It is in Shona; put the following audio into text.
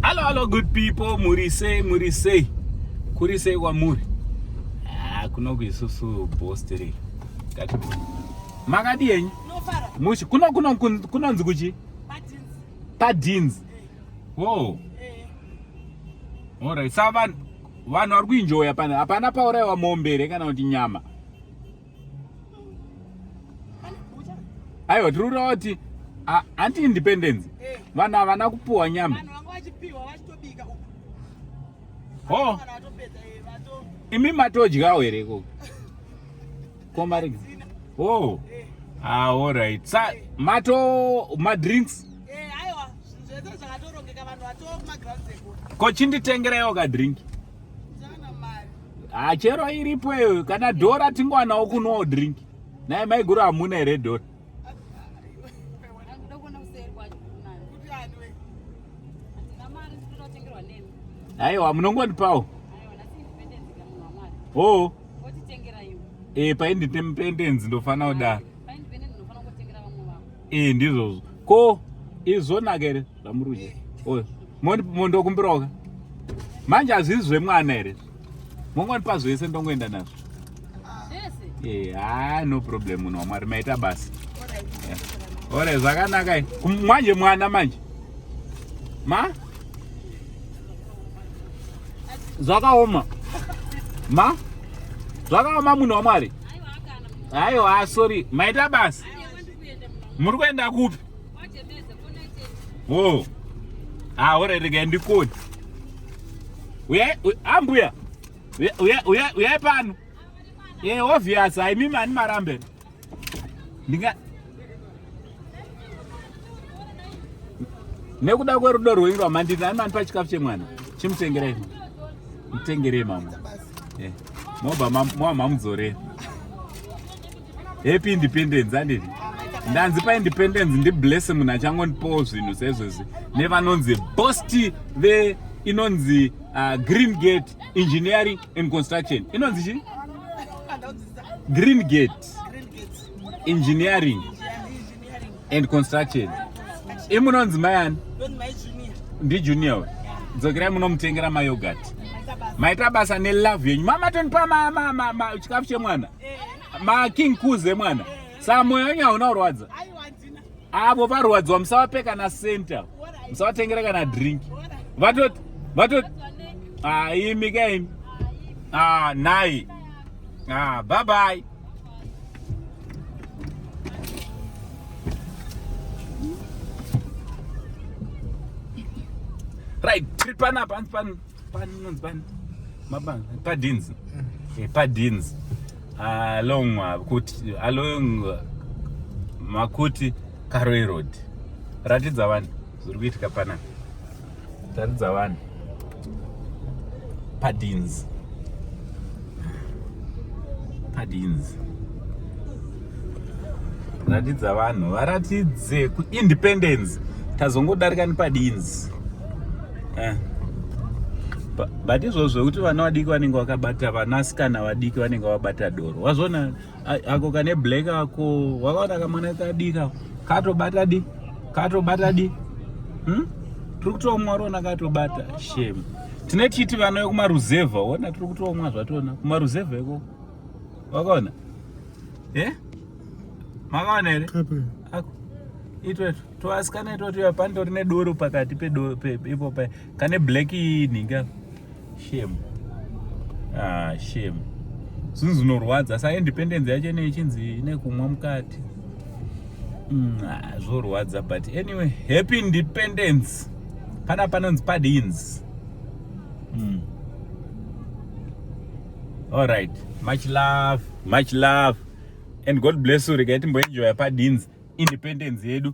Hello, hello, good people. Muri sei, muri sei. Kuri sei kwamuri? Ah, kunoku isusu bostiri. Makadi yenyu? Mushi, kuno kuno kunonzi kuchi? Padins. Padins. Wow. All right. Sava vanhu vari kuenjoya pana hapana pauraiwa mombe here kana kuti nyama? aiwa tiri kutaura kuti anti independence eh. vanhu havana kupuwa nyama ho imi matodyawo here ikoko komarig ho aho right sa mato madrinks ko chinditengerewo kadrink hachero ah, iripo iyoyo kana dhora tingowanawo kunowo drink naye maiguru hamuna here dhora aiwa munongondipawo o e painditendenzi ndofanira kudaro e ndizvozvo ko izvonaka here Damuruje. Oyo. Moni mondo kumbiroka. Manje azvizi zvemwana here? Mongoni pazvo yese ndongoenda nazvo. Zvese. Eh, ah no problem munhu waMwari maita basa. Ore eh. zvakanaka. Manje mwana manje. Ma? Zvakaoma. Ma? Zvakaoma munhu waMwari. Aiwa, ah, sorry. Maita basa. Muri kuenda kupi? Whoa. Ah, what are they getting the code? We are, we, ambuya. We are, we are, we are, we are pano. Eh, obvious, I mean mani marambe. Ndinga Nekuda kwerudo rwenyu rwamandiri ani mani pachikafu chemwana. Chimutengerei. Mutengerei mama. Eh. Moba mama mudzorei. happy independence anditi ndanzi paindependence ndiblesse munhu achangondipowo zvinhu sezvezi nevanonzi bosti ve inonzi uh, green gate engineering and construction inonzi chii green gate engineering and construction imunonzi mai ani ndijunior uyu dzokerai munomutengera mayogati maita basa nelove yenyu mamatondipa chikafu chemwana eh. making coos emwana eh. saa mwoyo wenyu hauna urwadza avo varwadziwa musawape kana center musawatengera kana drink vatoti vatoti ah, imi kaimi ah, nhai ah, bye bye right tiri pana pan pan pan nonzi pan mabanga padins mm. eh, padins along uh, kuti along uh, makuti karoe road ratidza vanhu zviri kuitika panapa taridza vanhu padins padins ratidza vanhu varatidze kuindependence tazongodarika nepadins eh. but izvozvo kuti vana vadiki vanenge vakabata vanasikana vadiki vanenge vabata doro wazvona ako kane black ako wakaona kamwana kadika katobata di katobata di hmm? tiri kutoomwa rona katobata shame tine titi vana vekumaruzevha ona tiri kutoomwa zvatona kumaruzevha iko wakaona e eh? makaona here itwetu toasikana itwatu yapandori nedoro pakati ipo kane black ini ka shame ah shame zvinhu zvinorwadza sa independence yacho ine ichinzi ine kumwa mukati mm, ah, zvorwadza but anyway happy independence pana panonzi padins mm. all right much love much love and god bless you regai timboenjoya padins independence yedu